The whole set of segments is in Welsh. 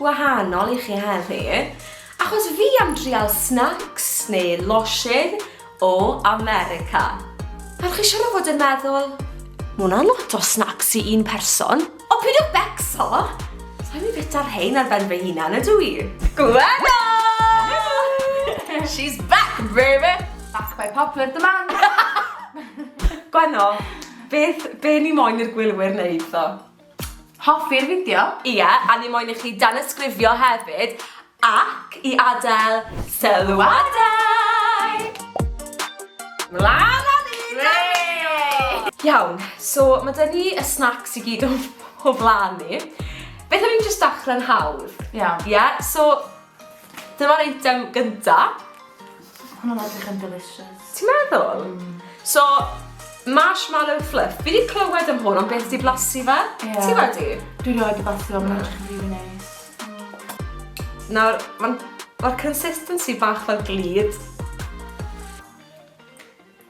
gwahanol i chi heddi, achos fi am drial snacks neu losin o America. Nawr chi siwr o fod yn meddwl, ma hwnna'n lot o snacks i un person. O pyd o becso! Sa'n i bita rhein ar ben fy hunan ydw i? Gwenno! She's back baby! Back by popular demand! Gwenno, beth, be ni moyn i'r gwylwyr wneud ddo? Hoffi'r fideo? Ie, a ni moyn i chi danysgrifio hefyd ac i adael sylwadau! Mlan â ni! Hwrê! Iawn, so ma' 'da ni y snacks i gyd o o flan ni. Beth am i ni jyst dachrau'n hawdd? Iawn. Ie? So, Dyma'r eitem gyntaf. Hwna'n edrych yn delicious. Ti'n meddwl? Mm. So, marshmallow fluff. Fi wedi clywed am hwn, ond beth di blasu fe? Yeah. Ti wedi? Dwi roi di blasu fe, mae'n edrych yn rili neis. Nawr, mae'r ma consistency bach fel glid.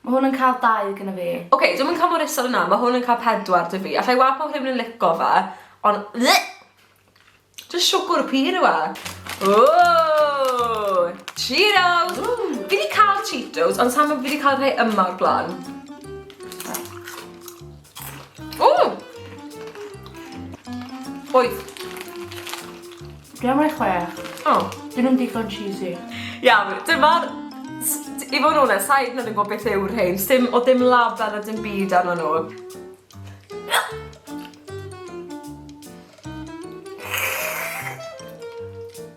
Mae hwn yn cael dau gyda fi. Oce, okay, dwi'n mynd cael mor isel yna, mae hwn yn cael pedwar dy fi. Alla i weld pob rhywun yn lico fe, ond... Dwi'n siwgwr y pyr yw e. Ooh, Cheetos! Fi wedi cael Cheetos, ond sa'n fi wedi cael rhai yma o'r blaen. O! Wyth. Dwi'n rhoi chwech. O. Dyn nhw'n digon cheesy. Iawn, dyma'r... I fod yn onest, sa i hyd yn oed yn gwybod beth yw'r rhain. Sdim o dim label a dim byd arno nhw.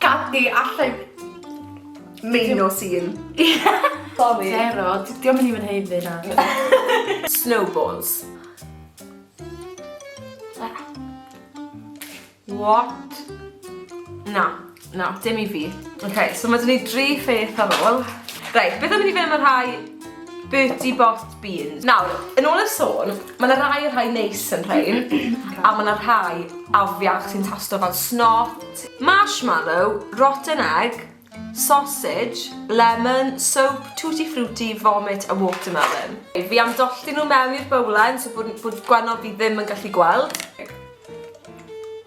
Gad di allai Main o sîn. Sorry. Zero. Diolch yn even heiddi na. Snowballs. What? Na. Na, dim i fi. Ok, so mae dyn ni dri pheth ar ôl. Reit, beth am i ni fynd am y rhai Bertie Bott's beans? Nawr, yn ôl y sôn, mae yna rai y rhai neis yn rhain, a mae yna rhai afiach sy'n tasto fel snot, marshmallow, rotten egg, sausage, lemon, soap, tutti frutti, vomit a watermelon. Fi am dollti nhw mewn i'r bowlen so bod, bod gwennol fi ddim yn gallu gweld.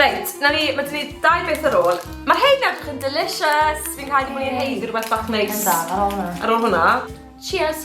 Reit, na ni, mae dyn ni dau beth ar ôl. Mae hein edrych yn delicious. Fi'n cael ei mwyn hein i rhywbeth bach neis. Yn da, ar ôl hwnna. Ar ôl hwnna. Cheers.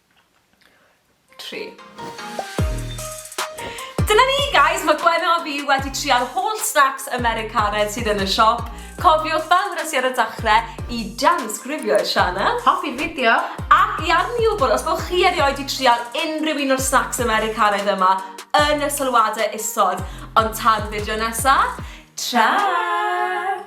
tri. Dyna ni guys, mae Gwenno a fi wedi trial holl snacks Americanedd sydd yn y siop. Cofiwch fel wnes i ar y dachrau i dance grifio i'r sianel. Hoffi'r fideo. Ac i arni wybod, os bod chi erioed wedi trial unrhyw un o'r snacks Americanedd yma yn y sylwadau isod. Ond tan fideo nesaf, tra!